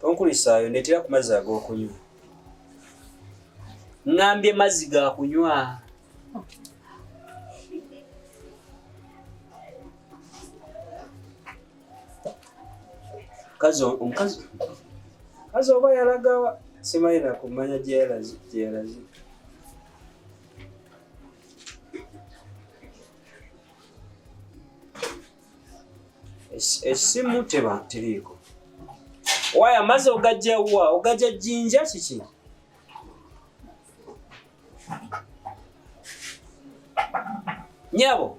Tonkulisaayo ndeetera ku mazzi ag'okunywa. Ngambye mazzi ga kunywa. kazi omukazi kazi oba yalagawa simanyi nakumanya gyeyalazi gyeyalazi essimu teba tiriiko waye amazi ogajja wa ogajja jjinja kiki nyabo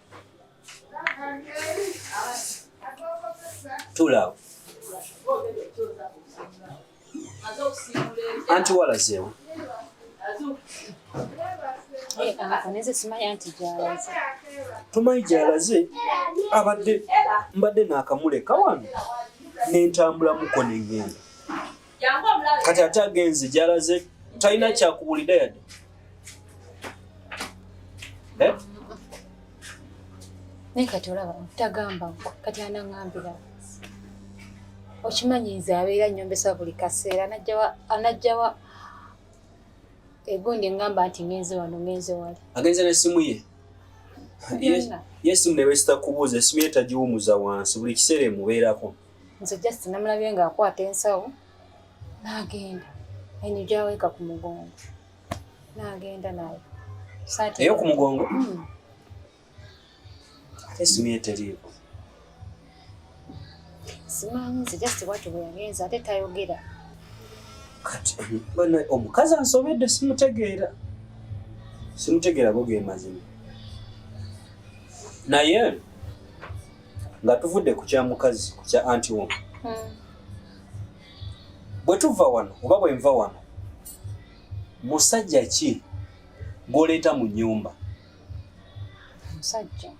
Tula. Anti wala zeo. Tumanyi gyalaze abadde mbadde naakamuleka wano nentambulamuko nengenda kati ate agenzi gyalaze talina kyakubulidde yadde eh? naye kati olaba tagamba kati anangambira okimanyi nze abeera nyombesa buli kaseera anajjawa egundi ngamba nti ngenze wano ngenze wali agenze nesimu ye yesimu nebesita kubuuza esimu ye tagiwumuza wansi buli kiseera emubeerako nze just namulabye nga akwata ensawo nagenda enyo gyaweka ku mugongo nagenda nayo eyo ku mugongo hmm. ate esimu ye teriiko simanyi nze just bwatyo bwe yagenza ate tayogera kati bana omukazi ansobedde simutegeera simutegeera go ge mazima naye nga tuvudde ku kya mukazi ku kya anti wo hmm. bwe tuva wano oba bwe nva wano musajja ki gw'oleeta mu nnyumba musajja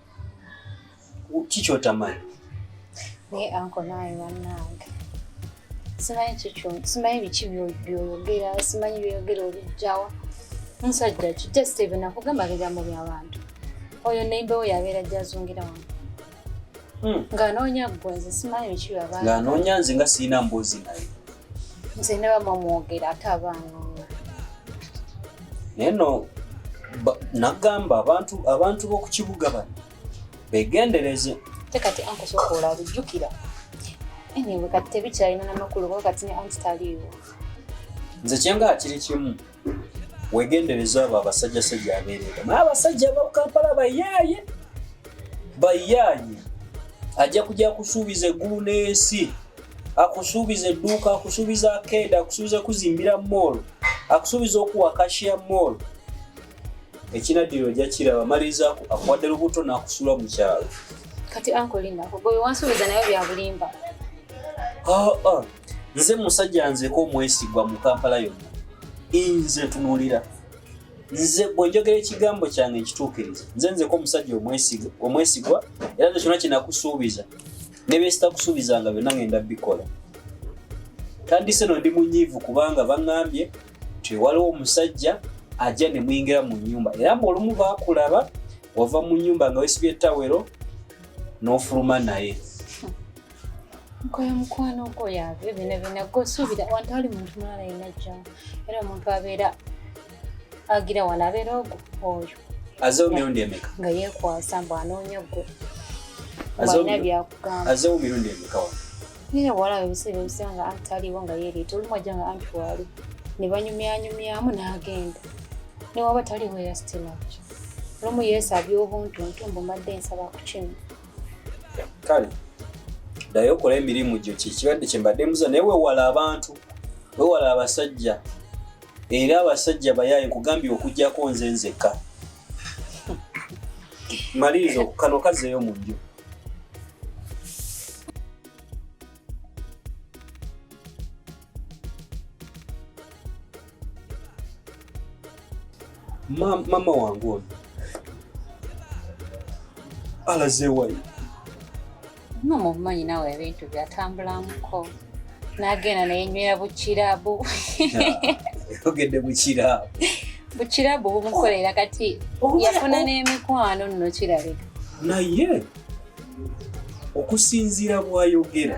kikyotamanyi naye anko naawe bannange simanyi kikyo simanyi biki byoyogera simanyi byoyogera olijjawa musajja ki just ebyo nakugamba bigambo byabantu oyo nembewo yabeera gyazungira wano hmm. ng'anoonya ggwe nze simanyi biki byabantu ng'anoonya nze nga sirina mboozi naye nze ne bamwe mwogera ate abaanoonya naye no nagamba abantu abantu b'oku kibuga bano begendereze te kati anko soka olabe jukira anyway kati tebikyalina namakulu kuba kati ne anti taliiwo nze kyenga kiri kimu wegendereze abo abasajja sajja abeerera naye abasajja abakukampala bayaaye bayaaye ajja kujja kusuubiza eggulu n'ensi akusuubiza edduuka akusuubiza akeeda akusuubiza kuzimbira moolo akusuubiza okuwa kashiya moolo ekinaddira ojja kiraba maliriza akuwadde lubuto n'akusuula mu kyalo kati ankolinda gwe wansuubiza nayo byabulimba ah, ah. nze musajja nzeko omwesigwa mu kampala yonna nze ntunuulira nze bwenjogera ekigambo kyange nkituukiriza nze nzeko omusajja omwesigwa era nze kyona kyenakusuubiza nebyesitakusuubizanga byonna ngenda bikola tandise no ndi munyiivu kubanga baŋambye nti waliwo omusajja ajja ne muyingira mu nnyumba era mbu olumu baakulaba wava mu nnyumba nga wesibye ettawero n'ofuluma naye nkoyo mukwano ogwo yabyo bino bina gosuubira wantu ali muntu mulala yenajjamu era omuntu abeera agira wano abeera ogwo oyo azewo mirundi emeka nga yekwasa mbu anoonya gwe azewo mirundi emeka wano Nina wala ebiseera ebisinga nga anti taliwo nga yeereeta olumu ajja nga anti waali ne banyumyanyumyamu n'agenda ne waba taliwo yasitima kyo olumu yeesabye obuntuntu mbu mbadde nsaba ku kino kale ddayo okola emirimu gyo kyekibadde kye mbadde mbuza naye wewala abantu wewala abasajja era abasajja bayaaye nkugambye okugyako nze nzekka maliriza kano kazzeeyo mu nju mama wangu ono alazeewayo no mumanyi nawe ebintu byatambulamuko nagenda nayenywera bukirabu yogedde bukirabu bukirabu bumukolera kati yafuna n'emikwano nno kirabika naye okusinziira bwayogera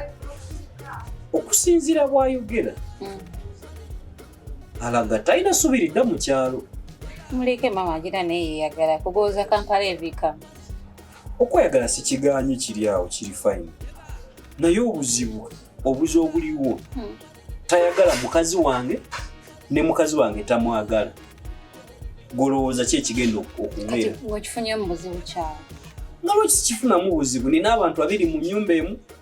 okusinziira bwayogera hmm. alaga talina subiridda mu kyalo muleke mama agira naye yeyagala kugooza kampala ebikamu okwayagala sikiganye kiri awo kiri fine naye obuzibu obuzi obuliwo hmm. tayagala mukazi wange ne mukazi wange tamwagala golowooza ki ekigenda okubeera nga lwaki sikifunamu buzibu nina abantu abiri mu nyumba emu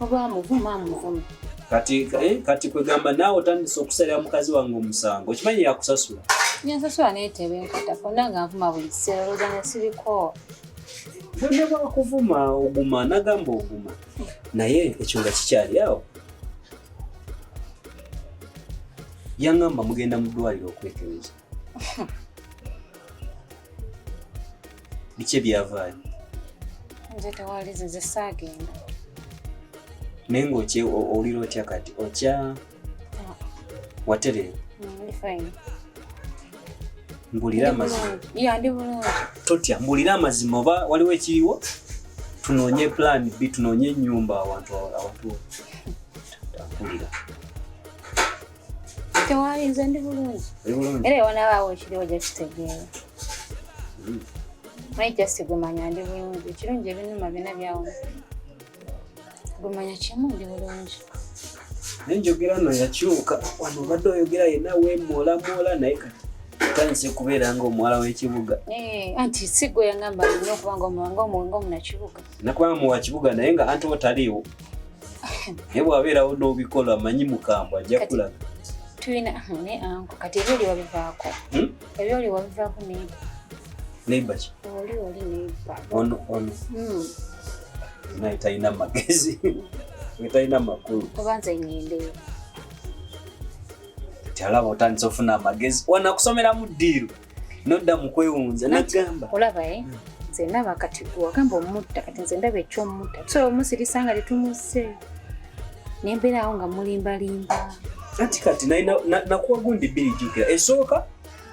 oba muvuma muvuma kati eh, kati kwegamba naawe otandise okusalira mukazi wange omusango okimanyi yakusasula yansasula naye tebenkata konna nga nvuma buli kiseera olowooza nga siriko bonna bakuvuma oguma nagamba oguma naye ekyo nga kikyali awo yaŋamba mugenda mu ddwaliro okwekebeza biki ebyavaayo? Nze tewali nze saagenda. Naye ng'oky owulira otya kati okya ah. watereera? Mm, mbulira amazima. Ndi bulungi. Totya mbulira amazima oba waliwo ekiriwo tunoonye plan bi tunoonye ennyumba awantu awantu. Mbulira. Tewali nze ndi bulungi. Era ewanabaawo ekiriwo gye kitegeera. Naye just gumanya ndi bulungi. Ekirungi ebinuma byonna byawona. Gumanya kimu ndi bulungi. Naye njogera no yakyuka. Wano obadde oyogera yenna weemoolamoola naye kati. Tandise kubeera ng'omuwala w'ekibuga. Eh, anti si gwe yangamba nina okuba ng'omunakibuga. nakuba muwa kibuga naye nga anti otaliwo naye bwabeerawo n'obikola manyi mukambwe ajja kulaga tulina ne anko kati ebyoli wabivaako hmm? ebyoli wabivaako neiba neiba ki oli oli neiba ono ono hmm. naye talina magezi talina makulu oba nze ngendeyo kati alaba otandise ofuna amagezi wanakusomeramu ddiiru nodda mu kwewunza nagamba olaba eh? hmm. nze ndaba kati wagamba omutta kati nze ndaba ekyomutta tusobola omusirisa nga tetumusse nembeeraawo nga mulimbalimba anti kati nakuwa gundi bbiri jukira esooka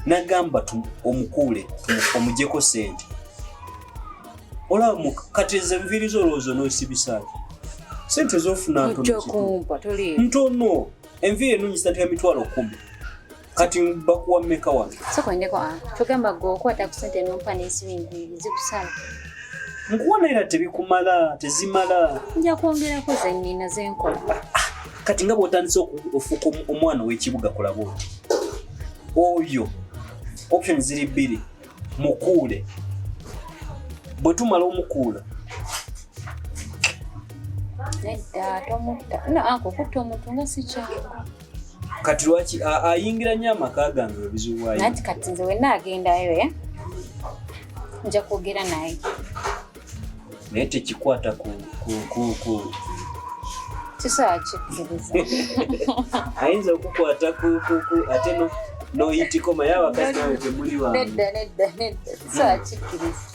nagamba omukuule omujeko sente olaba kati nze enviiriza olowooza onoosibisaaki sente zofuna ntono enviiri enonyisa nti emitwalo kumi kati bakuwa mmeka wano sokwendeko ah, togamba gwe okwata ku sente nompa n'ensibi zikusala nkuwa naye era tebikumala tezimala nja kwongerako zennina zenkola ah, kati nga bwotandise ofuuka omwana ow'ekibuga kulaba oti oyo option ziri bbiri mukuule bwe tumala omukuula nedda tomutta no anko kutta omuntu nga sikyangu kati lwaki ayingira nnyo amaka gange ebizibu wayo nati kati nze wenna agendayo e eh? nja kwogera naye naye tekikwata ku kisobola kikiriza ayinza okukwata kukuku ate noyitikoma yabakazi nawe temuliwa nedda nedda nedda kisobola kikiriza